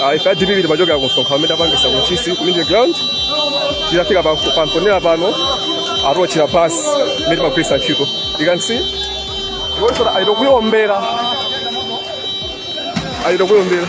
Ah, ife a dpp timachokera ku msonkhano umene tapangisa ku ntchisi ku media ground titafika pa- pa mponela pano atiotchera basi imene timagwiritsa ntchito you can see iwonso achita kuyiombera achita kuyiombera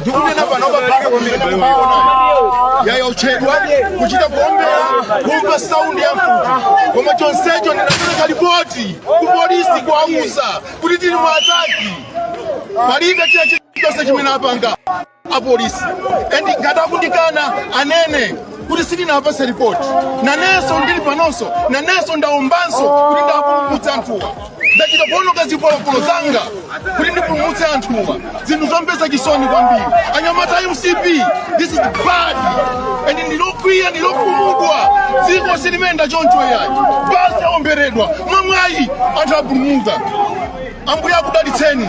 ndikunena panopa pano imene mukuiona yayotchedwa kuchita kuombera kumva saundi ya mfuti koma chonsecho ndinapereka ripoti ku polisi kuwauza kuti tili mu ataki palibe china chilichonse chimene apanga apolisi and ngati akundikana anene kuti sitinawapatse ripoti nanenso ndili panonso nanenso ndaombanso kuti ndipulumutse anthuwa ndachita kuononga zipolopolo zanga kuti ndipulumutse anthuwa zinthu zomvetsa chisoni kwambiri anyamata a mcp this is bad and ndilokwiya ndilokhumudwa dziko silimenda choncho yayi basi yaomberedwa mwamwayi anthu apulumuka ambuye akudalitseni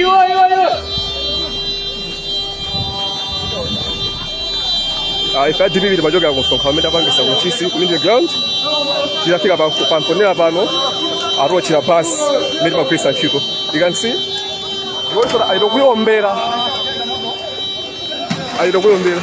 Iwo, iwo, iwo. Ah, ife a dpp timachokera ku msonkhano umene tapangisa ku ntchisi ku Middle ground titafika pa pa mponela pano atiotchera basi imene timagwiritsa ntchito you can see iwonso achita kuyiombera achita kuyiombera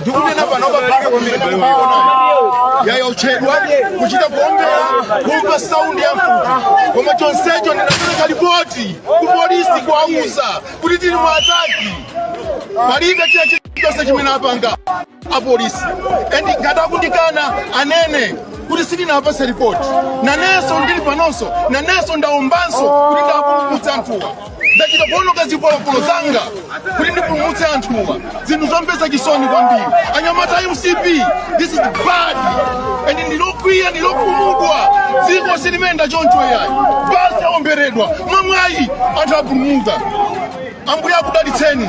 ndikunena panopa pano pamene mukuiona yayotchedwa kuchita kuombera kumva saundi ya mfuti koma chonsecho ndinapereka lipoti ku polisi kuwauza kuti tili mu ataki palibe china chilichonse chimene apanga apolisi and ngati akundikana anene kuti sitinawapatse ripoti nanenso ndili panonso nanenso ndaombanso kuti ndipulumutse anthuwa ndachita kuononga zipolopolo zanga kuti ndipulumutse anthuwa zinthu zomvetsa chisoni kwambiri anyamata a mcp this is bad and ndilokwiya ndilokhumudwa dziko silimenda choncho yayi basi yaomberedwa mwamwayi anthu apulumuka ambuye akudalitseni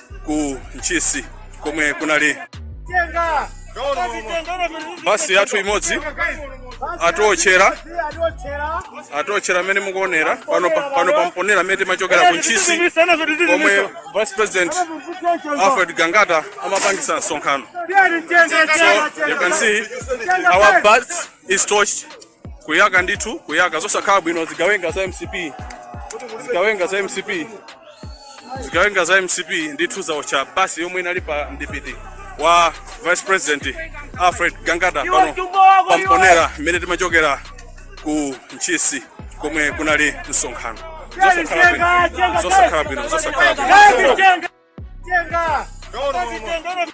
ku ntchisi komwe kunali basi yathu imodzi atiotchera atiotchera mmene mukuonera pano pa- pano pa mponela mmene timachokera ku ntchisi komwe vice president alfred gangata amapangisa msonkhano so you can see our bus is torched kuyaka ndithu kuyaka zosakhala bwino zigawenga za mcp zigawenga za mcp zigawenga za mcp ndithu zaotcha basi yomwe inali pa mdipiti wa vice president alfred gangata pano pa mponela mmene timachokera ku ntchisi komwe kunali msonkhano zosakhala bwino zosakhala bwino zosakhala bwino Tenga! Tenga! Tenga!